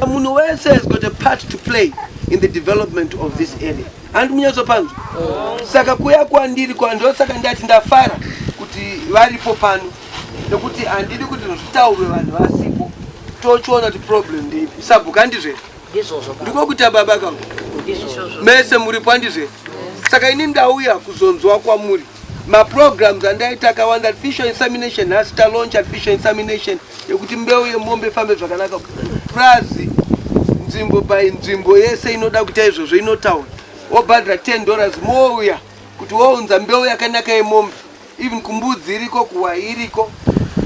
Munhu wese has got a part to play in the development of this area. Handi munyatsopanzwa. Oh. Saka kuya kwandiri kwandiro saka ndati ndafara kuti varipo pano nekuti handidi kuti zvitaurwe vanhu vasipo tochiona kuti problem ndeipi sabhuka ndizvese ndiko kuita baba kavo mese muri pandizve saka ini ndauya kuzonzwa kwamuri maprograms andaita akawanda artificial insemination nhasi talonch artificial insemination yekuti mbeu yemombe ifambe zvakanaka prazi nzvimbo by nzvimbo yese inoda kuita izvozvo inotaura wobhadhira 10 dollars mouya kuti wounza mbeu yakanaka yemombe even kumbudzi iriko kuwa iriko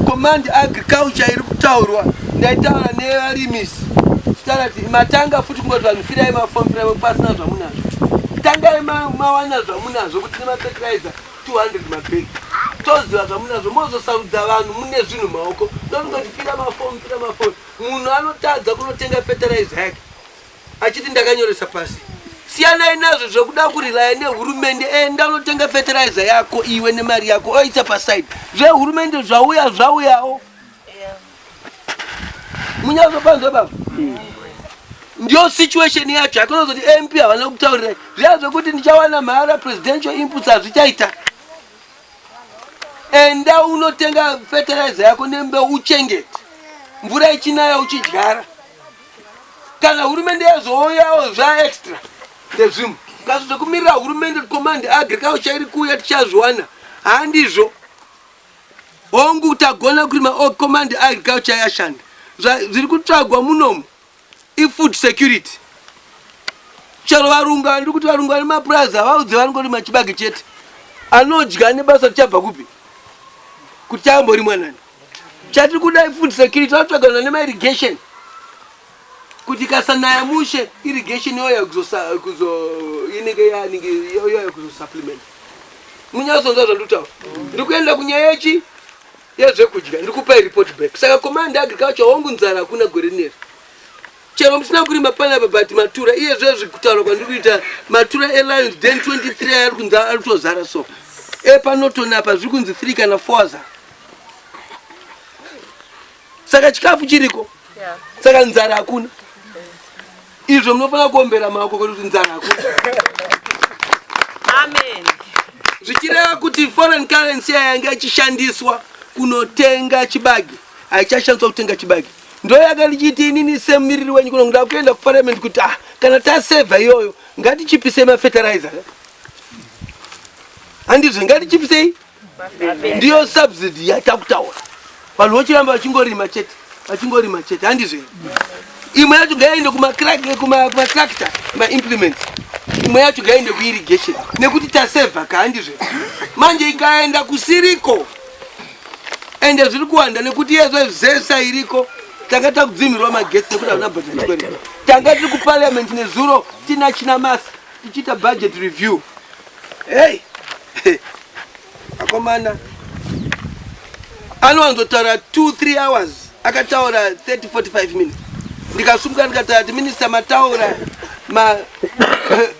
command agriculture iri kutaurwa ndaitaura nevarimisi chitaura kuti matanga futi kungoti vanhu firai mafom firai pasina zvamunazvo tangai mawana zvamunazvo kuti nemafertilizer 200 mabhegi toziva zvamunazvo mozosarudza vanhu mune zvinhu maoko ndonongoti fira mafom fira mafom munhu anotadza kunotenga fertilizer yake achiti ndakanyoresa pasi siyanai nazvo zvekuda kurilaya nehurumende enda eh, unotenga fertilizer yako iwe nemari yako oisa paside zvehurumende zvauya zvauyawo munyazopanzwa baba ndiyo situation yacho akonozoti mp havana kutaurirai zviya zvekuti ndichawana mahara presidential inputs hazvichaita enda unotenga fertilizer yako nembeu uchengete mvura ichinaya uchidyara kana hurumende yazouyawo zva extra ndezvimwe kaso zvekumirira hurumende command agriculture iri kuuya tichazviwana handizvo hongu tagona kurima o command agriculture yashanda zviri kutsvagwa munomu ifood security chero varungu andiri kuti varungu vane mapurazi havaudze vanongorima chibage chete anodya nebasa tichabva kupi kuti chamborimwa nani Chatiri kuda food security tinotsvagana nema irrigation kuti kasanaya mushe irrigation yoya kuzo inenge yanenge yoya kuzo supplement munyazonza zvandutaura ndiri kuenda kunyaya yechi yezvekudya ndiri kupai report back saka command agriculture hongu nzara hakuna gore rineri Chero musina kurima panapa but matura iye zvezvi kutaura kwandiri kuita matura elions den 23 aya ari kunzi ari kutozara so epanotoni apa zviri kunzi 3 kana 4 aza saka chikafu chiriko saka nzara hakuna izvo munofanira kuombera maoko kuti nzara hakuna amen zvichireva kuti foreign currency yayanga ichishandiswa kunotenga chibage haichashandiswa kutenga chibage ndoyaka ndichiiti inini semumiriri wenyu kuno ndoda kuenda kuparliament kuti ah kana tasevha iyoyo ngatichipisei mafertilizer handizve ngatichipisei ndiyo subsidy yatakutaura vanhu vochiramba vachingorima chete vachingorima chete handizve imwe yacho ngaiende kumatractor maimplements imwe yacho ngaiende kuirrigation nekuti tasevha ka handizve manje ikaenda kusiriko ende zviri kuwanda nekuti iye zvezesa iriko tanga takudzimirwa magetsi nekuti havana budget request tanga tiri kuparliament nezuro tina china mas tichiita budget review hey akomana anowanzotaura 23 hours akataura 3045 minutes ndikasumuka ndikataura ti minista mataura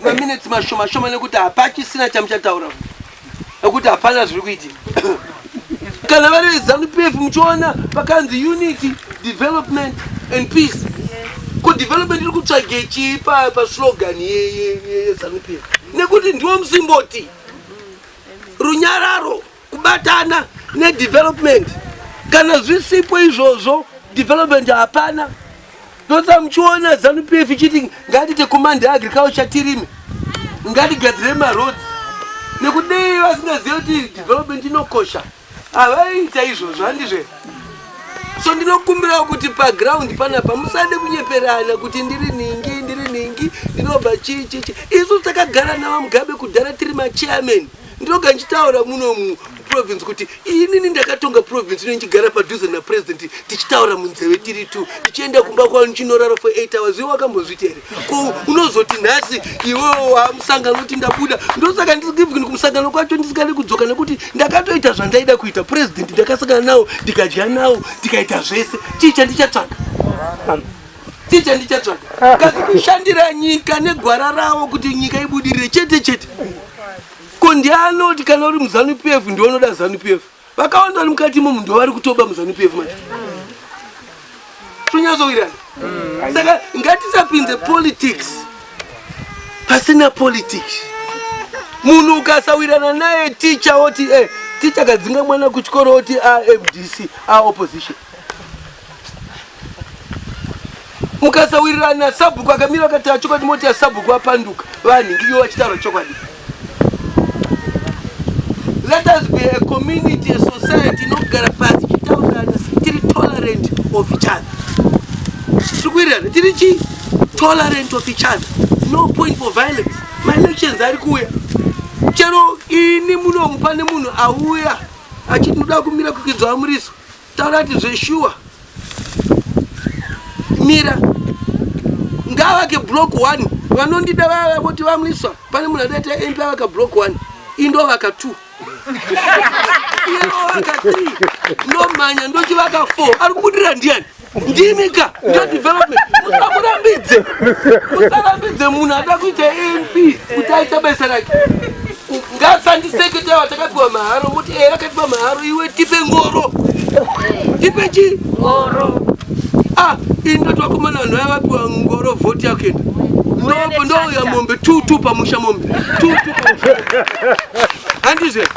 maminutes ma mashoma shoma nekuti hapachisina chamuchataura nekuti hapana zviri kuitika kana vari vezanu pf muchiona pakanzi unity development and peace ko development iri kutsvage chii paslogan yezanu pf nekuti ndiwo musimboti runyararo kubatana nedevelopment kana zvisipo izvozvo development hapana Ndosaka muchiona zanu PF ichiti ngatiite command agriculture tirime, ngatigadzire maroads nekuti dei vasingazive kuti development inokosha havaiita izvozvo handizve so ndinokumbirawo kuti paground panapa musade kunyeperana kuti ndiri ningi ndiri ningi ndinobva chii chii chii isu takagara navamugabe kudhara tiri machairman ndinoga ndichitaura muno muprovince kuti inini ndakatonga province ino ndichigara padhuze napresident tichitaura munzeve tiri two ndichienda kumba kwavo ndichinorara for eight hours iwe wakambozviti here ko unozoti nhasi iwewo wamusangano kuti ndabuda ndosaka ndisivin kumusangano kwacho ndisingadi kudzoka nekuti ndakatoita zvandaida kuita president ndakasangana nawo ndikadya nawo ndikaita zvese chii chandichatsvaga Ndiye chandichatsvaga. Kazi kushandira nyika negwara ravo kuti nyika ibudirire chete chete. Ko ndiye anoti kana uri muzanu PF ndiwe unoda zanu PF. Vakawanda vari mukati imomu ndivo vari kutoba muzanu PF manje. Tonyatsowirirana. Saka ngatisapinze politics pasina politics. Munhu ukasawirirana naye ticha oti eh ticha kadzinga mwana kuchikoro oti a FDC a opposition. mukasawirirana nasabhuku akamira akataura chokwadi moti yasabhuku apanduka vanhu ndiyo vachitaura chokwadi let us be a community a society inogara pasi tichitaurana tiri tolerant of each other tiri kuwirirana tiri chi tolerant of each other no point for violence maelections ari kuuya chero ini munomu pane munhu auya achinoda kumira kukidzwa amuriso Taura kuti zveshuwa mira ngavake block one vanondida vava voti vamwiswa pane munhu adaita mp avaka block one indovaka two inovaka three ndomhanya ndochivaka four ari kubudira ndiani ndimika ndodevelopment musamurambidze musarambidze munhu ada kuita mp kuti aita basa rake Ngasandisekete watakapiwa maharo muti eya akapiwa maharo iwe tipe ngoro. Tipe chi? Ngoro. Ah, ino twakomana vanhu vaya vapiwa ngoro vhoti yako enda. Ndopo ndouya mombe tutu pamusha mombe. Tutu. Handizve.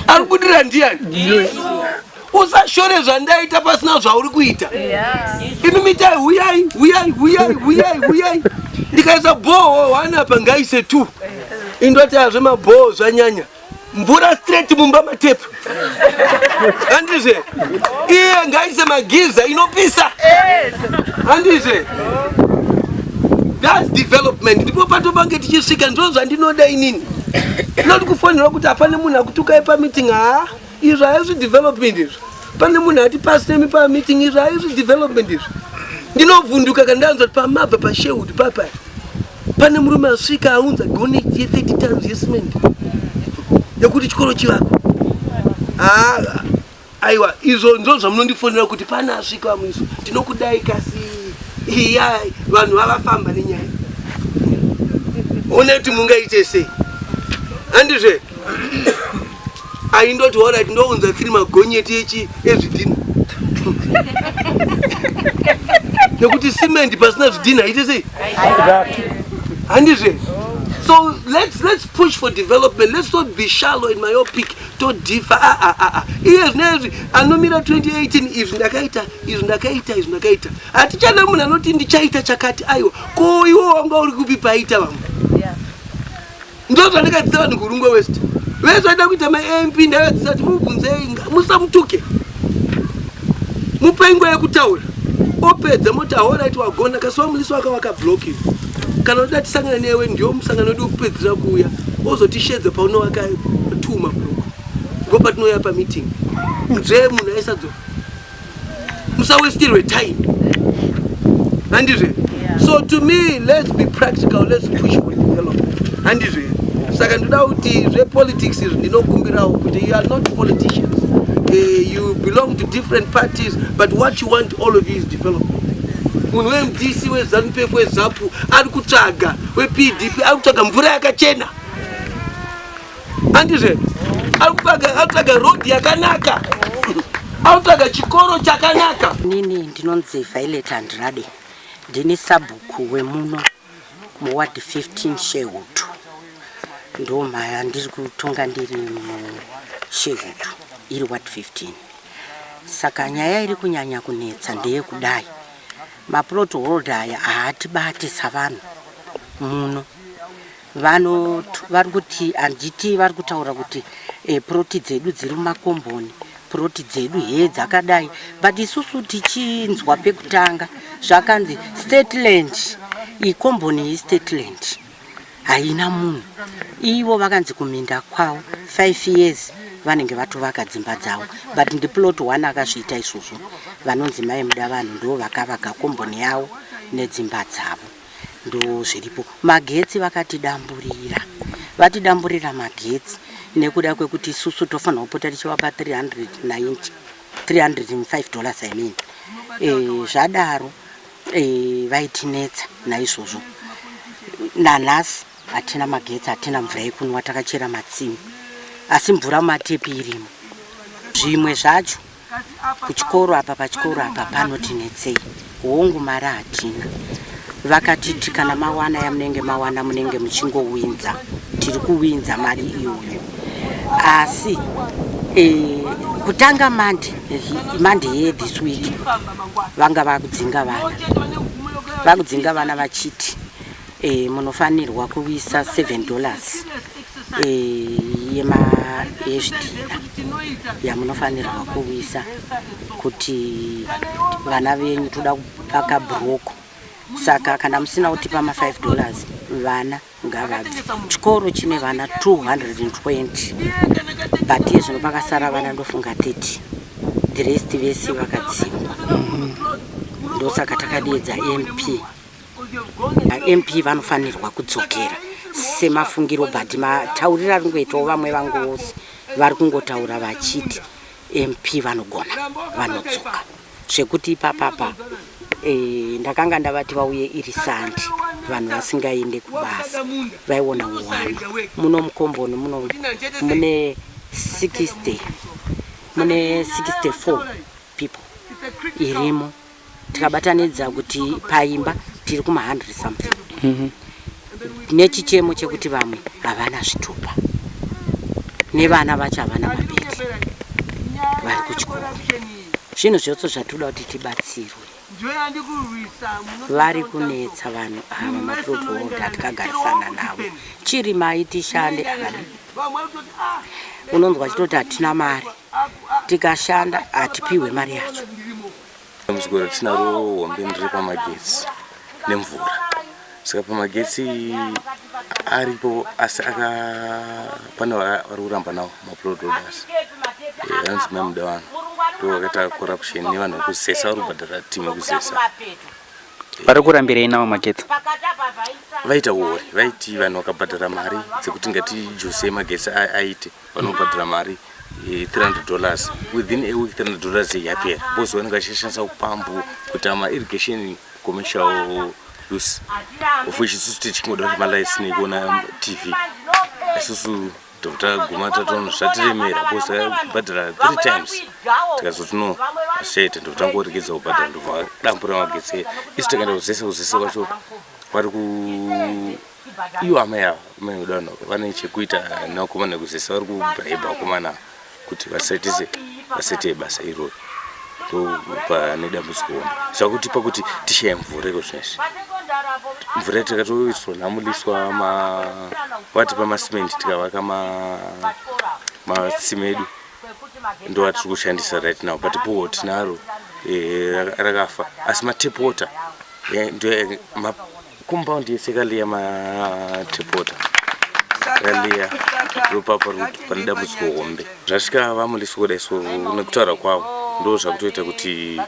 Arikudira ndiani? usashore zvandaita pasina zvauri kuita imi mitai huyai huyai huyai huyai huyai ndikaisa bhoho one apa ngaise two indoti hazve mabhoho zvanyanya mvura straight mumba matepu handizve iye ngaise magiza inopisa handizve thats development ndipo patopange tichisvika ndizvo zvandinoda inini ndinoti kufonera kuti hapane munhu akutukai pameeting haa izvo haizvi development izvo pane munhu ati pasemi pameeting izvo haizvi development izvo ndinovhunduka kana ndanzwa kuti pamabva pasherwood papa pane murume asvika aunza goneti ye 30 tons yecement yekuti chikoro chivako haa aiwa izvo ndizvo zvamunondifonera kuti pane asvika vamwiso tinokudai kasi iya vanhu vavafamba nenyaya one kuti mungaite sei handizve Aindoti horait ndounza tiri magonyeti echi ezvidhina. Nekuti cement pasina zvidhina ite sei? Handizve. So let's let's push for development. Let's not be shallow in my own pick. To differ. Ah ah ah ah. Yes, nezvi anomira 2018 izvi ndakaita izvi ndakaita izvi ndakaita. Hatichana munhu anoti ndichaita chakati aiwa. Ko iwo wanga uri kupi paita vamwe? ndozvandakadzidzisa vanhu kurungwe west vese vaida kuita mamp ndavadzisa kuti mubvunzei musamutuke mupai nguva yekutaura opedza moti ahorit wagona kasi wamulisi waka wakabloki kana uda tisangana newe ndiwo musangano wedu wekupedzisira kuuya ozotishedza paunowaka tuma bhuku ngo patinoya pameeting nzvee munhu aisadzoka musawestirwe time handizve so to me let's be practical let's push for development handizve saka ndoda kuti zvepolitics izvi ndinokumbirawo kuti you are not politicians uh, you belong to different parties but what you want all of you is development munhu wemdc wezanupef wezapu ari kutsvaga wepdp ari kutsvaga mvura yakachena andizve akutsvaga road yakanaka akutsvaga chikoro chakanaka nini ndinonzi violet andirade ndini sabhuku wemuno muward 15 shehutu ndo mhaya ndiri kutonga ndiri mushehutu iri ward 15 saka nyaya iri kunyanya kunetsa ndeye kudai maplot holder aya haatibate savanhu muno Vano vari kuti handiti vari kutaura kuti e, puroti dzedu dziri mumakomboni puroti dzedu hee dzakadai but isusu tichinzwa pekutanga zvakanzi stateland ikomboni iyi stateland haina munhu ivo vakanzi kuminda kwavo five years vanenge vatovaka dzimba dzavo but ndiplot one akazviita izvozvo vanonzi mai muda vanhu ndo vakavaka komboni yavo nedzimba dzavo ndozviripo magetsi vakatidamburira vatidamburira magetsi nekuda kwekuti isusu tofanira kupota tichivapa 390 305 dollars i mean e, zvadaro e, vaitinetsa naizvozvo nanhasi hatina magetsi hatina mvura yekunwa takachera matsimi asi mvura matepi irimo zvimwe zvacho kuchikoro apa pachikoro apa panotinetsei hongu mari hatina vakatiti kana mawana yamunenge mawana munenge muchingowinza tiri kuwinza mari iyoyo asi e, kutanga mande mande ye this week vanga vakudzinga vana vakudzinga vana vachiti e, munofanirwa kuisa 7 dollars e, yema yezvidhina yamunofanirwa kuisa kuti vana venyu toda kupaka broko saka kana musina kutipa ma 5 dollars vana ngavabve chikoro chine vana 220 but iye zvino pakasara vana ndofunga 30 the rest vese vakadzingwa ndosaka takadiedza mp mp vanofanirwa kudzokera semafungiro but matauriro ari kungoitawo vamwe vangoosi vari kungotaura vachiti mp vanogona vanodzoka zvekuti ipapapa e, ndakanga ndavati vauye iri sandi vanhu vasingaende kubasa vaiona uwanda muno mukomboni muno mune 60 mune 64 people irimo tikabatanidza kuti paimba tiri kuma 100 something mm -hmm. nechichemo chekuti vamwe havana zvitupa nevana vacho havana mabeki vari kuchikoro zvinhu zvose zvatoda kuti tibatsirwe vari kunetsa vanhu ava maprovoda tikagarisana navo chiri mai tishande aa unonzwa chitoti hatina mari tikashanda hatipihwe mari yacho dambudziko ratinaro hombe ndiri pamagetsi nemvura saka pamagetsi aripo asi aka pane vari kuramba nawo maprododas eh, anonzi mai muda vanhu ndo vakaita corruption nevanhu vekuzesa vari kubhadhara timu yekuzesa vari kurambirei nawo magetsi vaita uori vaiti vanhu vakabhadhara mari dzekuti ngatijuse magetsi aite vanobhadhira mari 300 eh, dollars within a week 300 dollars yapera because vanenge vachishandisa upambu kuita mairrigation commercial use of which isusu tichingoda kuti malights nekuona tv isusu totaguma tatono zvatiremera because takabhadhira three times tikazoti no ashaita ndotangoregedza kubhadhira ndovadambura magetsi isu takaenda kuzese kuzese kwacho vari ku Ivo amai ava amai vedu vano vane chekuita nevakomana nekuzesa vari kubraiba vakomana ava kuti vasatise vasete basa iroro ndopane dambudziko hombe zvakutipa kuti tishaye mvura iko zvino izvi mvura takatoiswa namuliswa ma vatipa masimendi tikavaka ma matsime edu ndovatiri kushandisa right now but boho tinaro eh, rakafa asi matap water eh, ndo eh, ma- Compound yese kaliya matepota kaliya ndopapa pane dambudziko hombe zvasvika vamulisi kuda isu nekutaura kwavo ndo zvakutoita kuti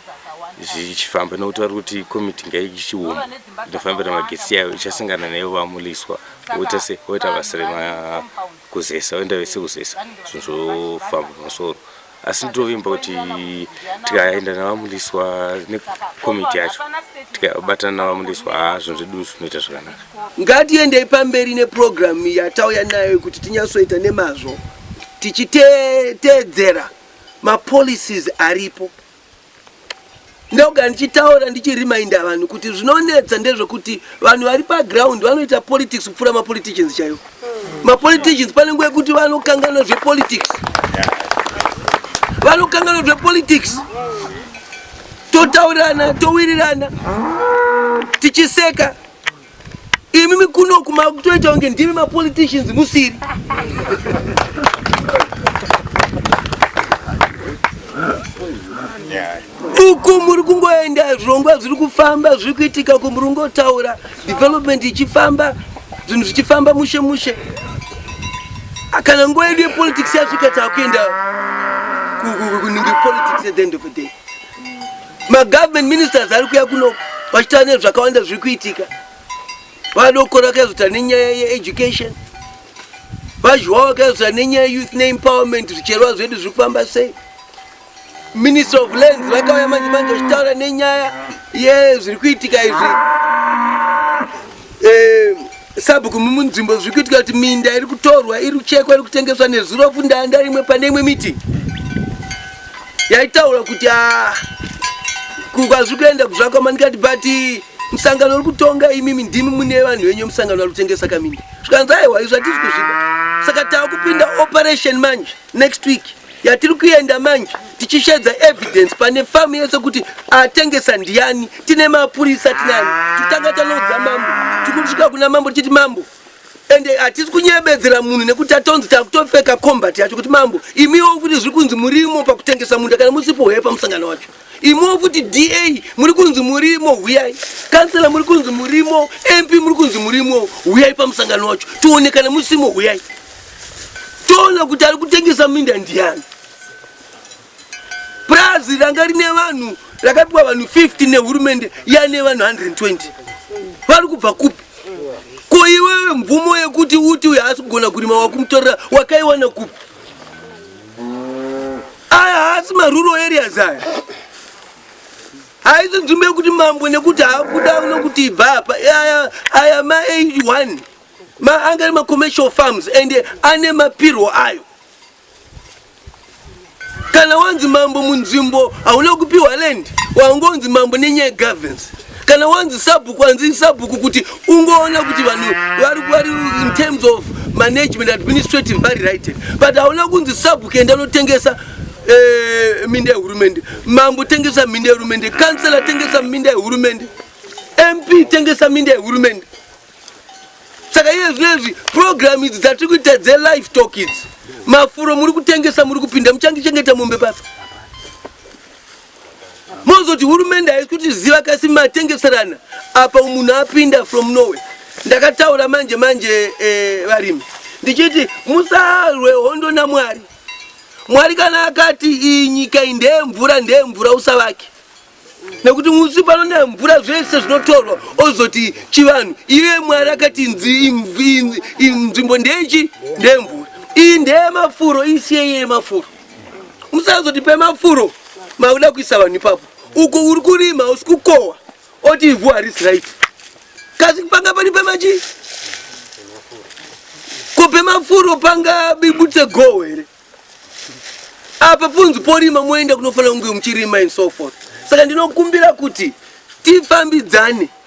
zvichifamba nokuti vari kuti komiti ngaichioma inofambira magesi yayo ichasangana nayo vamuliswa oita se oita basa remakuzesa oenda vese kuzesa zvinhu zvofamba pamusoro asi ndovimba kuti tikaenda navamuliswa nekomiti yacho tikabatana navamuliswa haa zvinhu zvedu zvinoita zvakanaka ngatiendei pamberi nepurogiramu yatauya nayo yekuti tinyatsoita nemazvo tichiteedzera mapolicies aripo ndogara ndichitaura ndichirimainda vanhu kuti zvinonetsa ndezvekuti vanhu vari paground vanoita politics kupfuura mapoliticians chaivo hmm. mapoliticians pane nguva yekuti vanokanganwa zvepolitics vanokanganwa zvepolitics totaurirana towirirana tichiseka Imi kuno kumakutoita kunge ndimi mapoliticians musiri. Uku muri kungoenda zvirongwa zviri kufamba zviri kuitika uku muri kungotaura development ichifamba zvinhu zvichifamba mushe mushe. Kana nguva yedu yepolitics yasvika takuenda kuningi politics at the end of the day. Magovernment ministers ari kuya kuno vachitaura nezvakawanda zviri kuitika. Vadokora vakazotaura nenyaya yeeducation, vazhwa vakazotaura nenyaya youth neempowerment, zvicherwa zvedu zviri kufamba sei. Minister of Lands vakauya manje manje vachitaura nenyaya yezviri kuitika izvi. Eh, Sabhuku mumunzvimbo zviri kuitika kuti minda iri kutorwa iri kuchekwa iri kutengeswa nezurofu ndanga rimwe pane imwe miti yaitaura kuti ah, kwazviri kuenda kuzvakwama ndikati but musangano uri kutonga imimi ndimi mune vanhu venyu musangano ari kutengesa kaminda zvikanzi aiwa izvo hatisi kuzvida saka tava kupinda operation manje next week yatiri kuenda manje tichishedza evidence pane famu yese kuti atengesa ndiyani tine mapurisa tinani titanga tanoudza mambo tikutika kuna mambo tichiti mambo ende hatisi kunyebedzera munhu nekuti atonzi takutopfeka combat yacho kuti mambo imiwo kuti zviri kunzi murimo pakutengesa munda kana musipo hwepa musangano wacho Imo futi DA muri kunzi murimo huyai. Kansela muri kunzi murimo, MP muri kunzi murimo, huyai pamusangano wacho. Toonekana musimo huyai. Toona kuti ari kutengesa minda ndiani. Prazi ranga rine vanhu rakapiwa vanhu 50 nehurumende yane vanhu 120. Vari kubva kupi? Ko iwewe mvumo yekuti uti uyo haasi kugona kurima wakumutorera wakaiwana kupi? aya haasi maruro areas aya haisi nzvimbo yekuti mambo nekuti haakuda nokuti ibva apa aya aya ma 81 ma anga ari macommercial farms and ane mapirwo ayo kana wanzi mambo munzvimbo hauna kupiwa land wangonzi mambo nenyaya governance kana wanzi sabhuku wanzi sabhuku kuti ungoona kuti vanhu vari vari in terms of management administrative vari right but hauna kunzi sabhuku enda anotengesa eh, minda yehurumende mambo tengesa minda yehurumende kansela tengesa minda yehurumende mp tengesa minda yehurumende saka iye zvinezvi program idzi dzatiri kuita dzelife talk idzi mafuro muri kutengesa muri kupinda muchangichengeta mombe pasi mozoti hurumende haisi kuti ziva kasi matengeserana apa munhu apinda from norway ndakataura manje manje eh, varimi ndichiti musarwe hondo namwari mwari kana akati iyi nyika iyi ndeyemvura ndeyemvura usavake nekuti musi pano nemvura zvese zvinotorwa ozoti chivanhu iye mwari akati nzvimbo ndechi ndemvura iyi ndeyemafuro isiye iye yemafuro musazotipe mafuro makuda kuisa vanhu ipapo uko uri kurima usi kukohwa oti ivhu harisi right kasi panga pani pemachi ko pemafuro panga bibutse goho here apa punzi porima moenda kunofanira kunge muchirima and so forth saka ndinokumbira kuti tifambidzane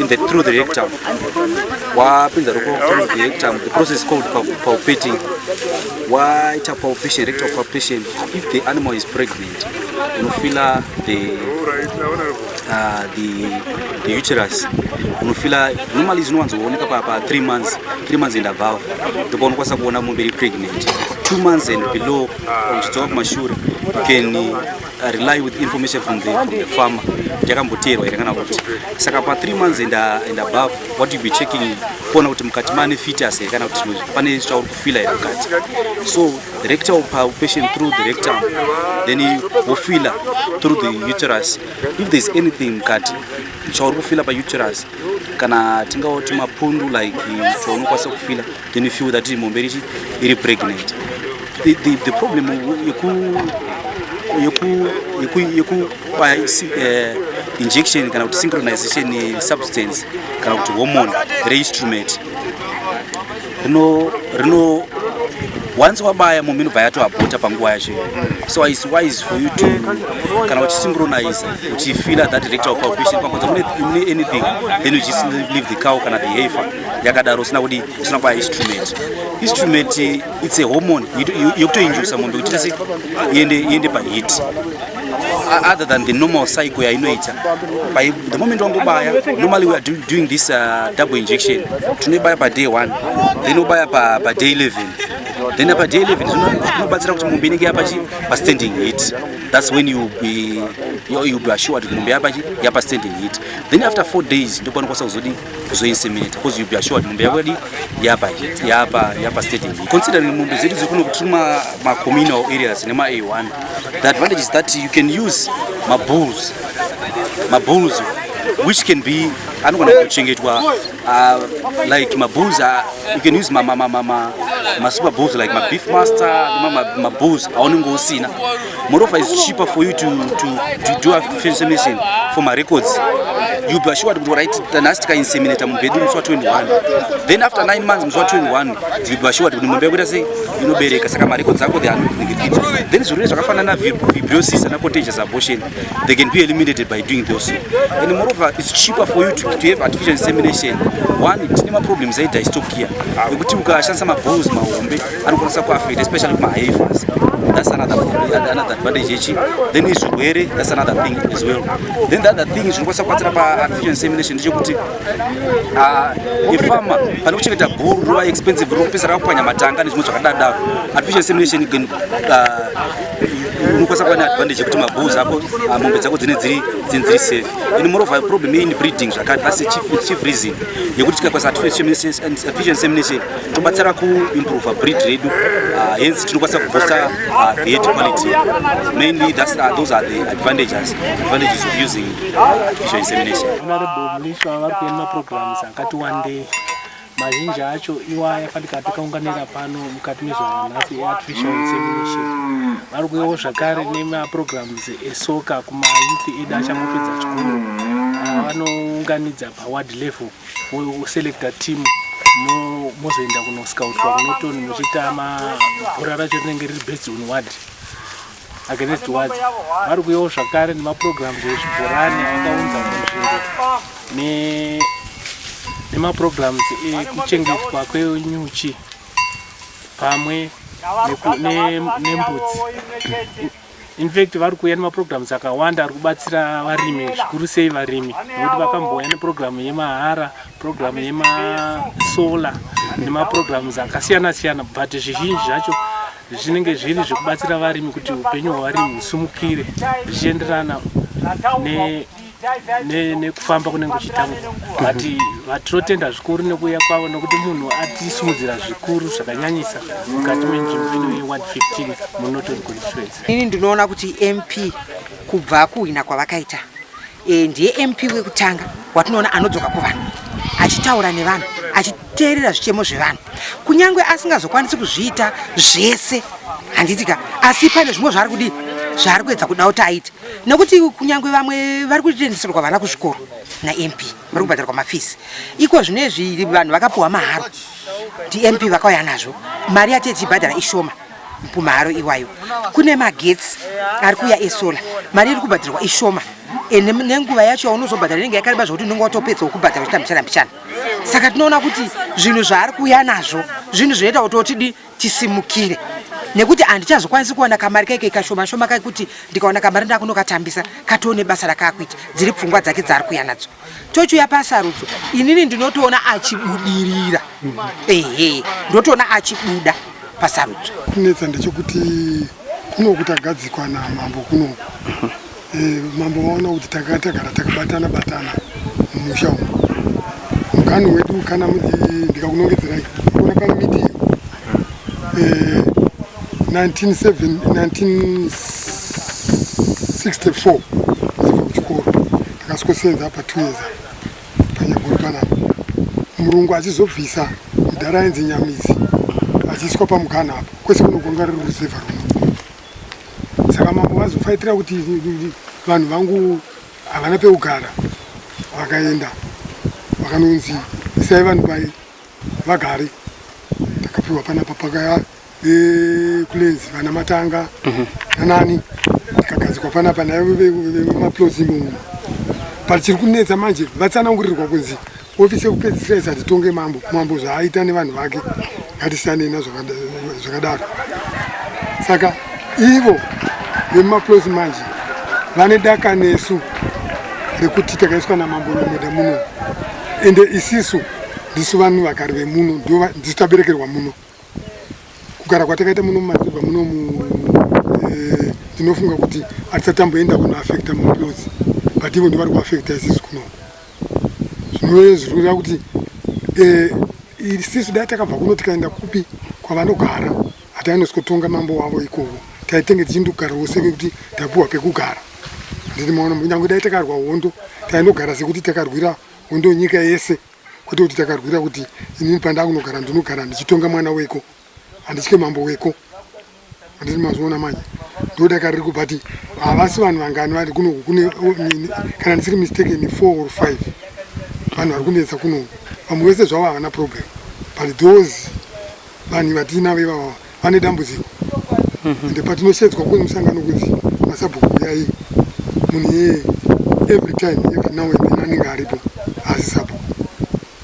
in the through the rectum wapinza roko through the rectum the process called palpating waita palpation rectal palpation if the animal is pregnant unofila the uh, the the uterus unofila normally zvinowanzooneka pa pa 3 months 3 months and above ndipo unokwanisa kuona mombe iri pregnant 2 months and below uchidzoka kumashure you can I rely with information from the, from the farmer yakamboteerwa here kana kuti saka pa 3 months and, uh, and above what you be checking kuona kuti mukati mane fetus here kana kuti pane zvauri kufila here mukati so the rector will power patient through the rectum then wofila through the uterus if there's anything mukati chauri kufila pa uterus kana tingawoti mapundu like chaunokwanisa kufila then you feel that mombe richi iri pregnant the, the, the problem yeku yeku yeku yeku by uh, eh, injection kana kuti synchronization ye substance kana kuti hormone re instrument rino rino once wabaya mombe inobva yatoabota panguva yacho so is wise for you to kana uchisynchronize uchifila that rectal palpation pakonza mune anything then you just leave the cow kana the hafer yakadaro usina kudi usina kupa instrument instrument it's a hormone yokutoinjusa mombe kuti tese iende iende pahit other than the normal cycle yainoita by the moment wangobaya normally we are do, doing this uh, double injection tinoibaya paday one then obaya paday 11 then apa day 11 zvinobatsira kuti mombe inenge yapa pastanding hit that's when you be, you be assured kuti mombe yapa standing hit then after four days ndopanokwanisa kuzodii kuzoinseminate because you be assured mombe yako yadi yapa yapa yapa stating considering mombe zedu dziri kuno kuti ma ma communal areas nema A1 the advantage is that you can use ma bulls ma bulls which can be anogona kuchengetwa uh, like ma bulls uh, you can use ma ma ma ma ma super bulls like ma beef master ma ma, ma bulls aunenge usina Moreover, it's cheaper for you to, to, to do a insemination for my records. You be assured to write the last time inseminator in bedroom so 21. Then after 9 months mzwa 21, you be assured kuti mumbe kuita sei inobereka saka my records ako they are not negative. Then zvirwere zvakafanana fibrosis and contagious abortion they can be eliminated by doing those. And moreover, it's cheaper for you to, to have artificial insemination. One, tine ma problems aita stock here. Ekuti ukashandisa ma balls mahombe anokwanisa kuafect especially kumahavers that's another another advantage yechi then izvirwere that's another thing as well then the other thing zvinokwanisa kubatsira paartificial insemination ndechekuti ah, ifarmer pane kuchengeta bhuru rova expensive rokupesera rakupwanya matanga nezvimwe zvakadadaro artificial insemination again ah, unokwanisa kuva neadvantage yekuti mabhus ako ah, mombe dzako dzine dziri dziri safe and moreover problem yein breeding zvakati that's chief reason yekuti tikakwanisa artificial insemination tobatsira kuimprove breed redu uh, hence tinokwanisa kuboosta uh, the head quality mainly that's, uh, those are the advantages advantages of using uh, artificial insemination honorable mliswa vari kuenda maprograms akati wandei mazhinji acho iwaya fanika takaunganira pano mukati mezuva ranhasi eartificial insemination vari kuyawo zvakare nemaprograms esoka kumayouth edu achangopedza chikoro vanounganidza paward level woselecta team mozoenda kunoscoutwa kunotoni muchiita mabhora racho rinenge riri based on ward against ward vari kuyawo zvakare nemaprograms ezvibhorani avakaunza munzvimbo nemaprograms ekuchengetwa kwenyuchi pamwe nembudzi In fact vari kuuya nemaprograms akawanda ari kubatsira varimi zvikuru sei varimi nekuti vakambouya neprogiramu yemahara programu yemasola nemaprograms akasiyana siyana but zvizhinji zvacho zvinenge zviri zvekubatsira varimi kuti upenyu hwevarimi husumukire zvichienderana ne nekufamba kunenge kuchitanga but vatinotenda zvikuru nekuuya kwavo nokuti munhu atisimudzira zvikuru zvakanyanyisa mukati menzvimbo ino yeward 15 munotori constituency ini ndinoona kuti mp kubva kuhwina kwavakaita e, ndiye mp wekutanga watinoona anodzoka kuvanhu achitaura nevanhu teerera zvichemo zvevanhu kunyange asingazokwanisi kuzviita zvese handiti ka asi pane zvimwe zvaari kudii zvaari kuedza kuda kuti aite nekuti kunyange vamwe vari kutendeserwa vana kuzvikoro namp vari kubhadharwa mafisi iko zvino izvi vanhu vakapuhwa maharo ndimp vakauya nazvo mari yati yechibhadhara ishoma pumaharo iwayo kune magetsi ari kuuya esola mari iri kubhadharwa ishoma nenguva yacho yaunozobhadhara inenge yakareba zvokuti unenge watopedza wokubhadhara uchitambisana mbishana saka tinoona kuti zvinhu zvaari kuuya nazvo zvinhu zvinoita kuti otidi tisimukire nekuti handichazokwanisi kuwana kamari kaike kashoma shoma kakuti ndikawana kamari ndakunokatambisa katoone basa rakaakuita dziri pfungwa dzake dzaari kuya nadzo tochiuya pasarudzo inini ndinotoona achibudirira ehe ndotoona achibuda pasarudzo kunetsa ndechekuti kunoku tagadzikwa namambo kunoku Eh, mambo vaona kuti tanga tagara takabatana batana mumusha umu mukani wedu kana ndikakunongedzerai kuona pano midiyo 1964 zibva kuchikoro takasikosenza apa two years panyaguru panapa murungu achizobvisa mudhara ainzi nyamizi achiiswa pamugana apo kwese kunogonga riri ruzevha runo saka mambo vazofaitira kuti vanhu vangu havana pekugara vakaenda vakanonzi isai vanhu pai vagare takapiwa panapa pakaya vekulenzi vana matanga mhm. nanani takagadzikwa panapa naye vemaplozi imomo but chiri kunetsa manje vatsanangurirwa kunzi Ofisi yekupedzisira isati tonge mambo, mambo zvaaita nevanhu vake ngatisanei nazvakadaro. Saka ivo vemumaplosi manje vane daka nesu rekuti takaiswa namambo nomoda muno, ende isisu ndisu vanhu vagari vemuno ndisu taberekerwa muno. Kugara kwatakaita muno mumadzirwa muno mu eh, ndinofunga kuti hatisatamboenda kunoafekta mumaplosi but ivo ndivari kuafekta isisu kuno. zvinove zvinoreva kuti eh, isisu dai takabva kuno tikaenda kupi kwavanogara hatainoskotonga mambo wavo ikovo taitenge tichindogarawo sekekuti tapuwa pekugara nditi maona kunyange dai takarwa hondo tainogara sekuti takarwira hondo nyika yese kwete kuti takarwira kuti inini pandakunogara ndinogara ndichitonga mwana weko handitye mambo weko Anditi mazviona manje ndodakariri kubva ti havasi vanhu vangani vari kunoku kune kana ndisiri mistake ni four or five vanhu vari kunetsa kunoku vamwe vese zvavo havana problem but those vanhu vatiinavo ivava vane dambudziko mhm. ende patinoshedzwa kune musangano kuti masabhuku kuyai munhu yeye every time every now and then anenge aripo asi sabhuku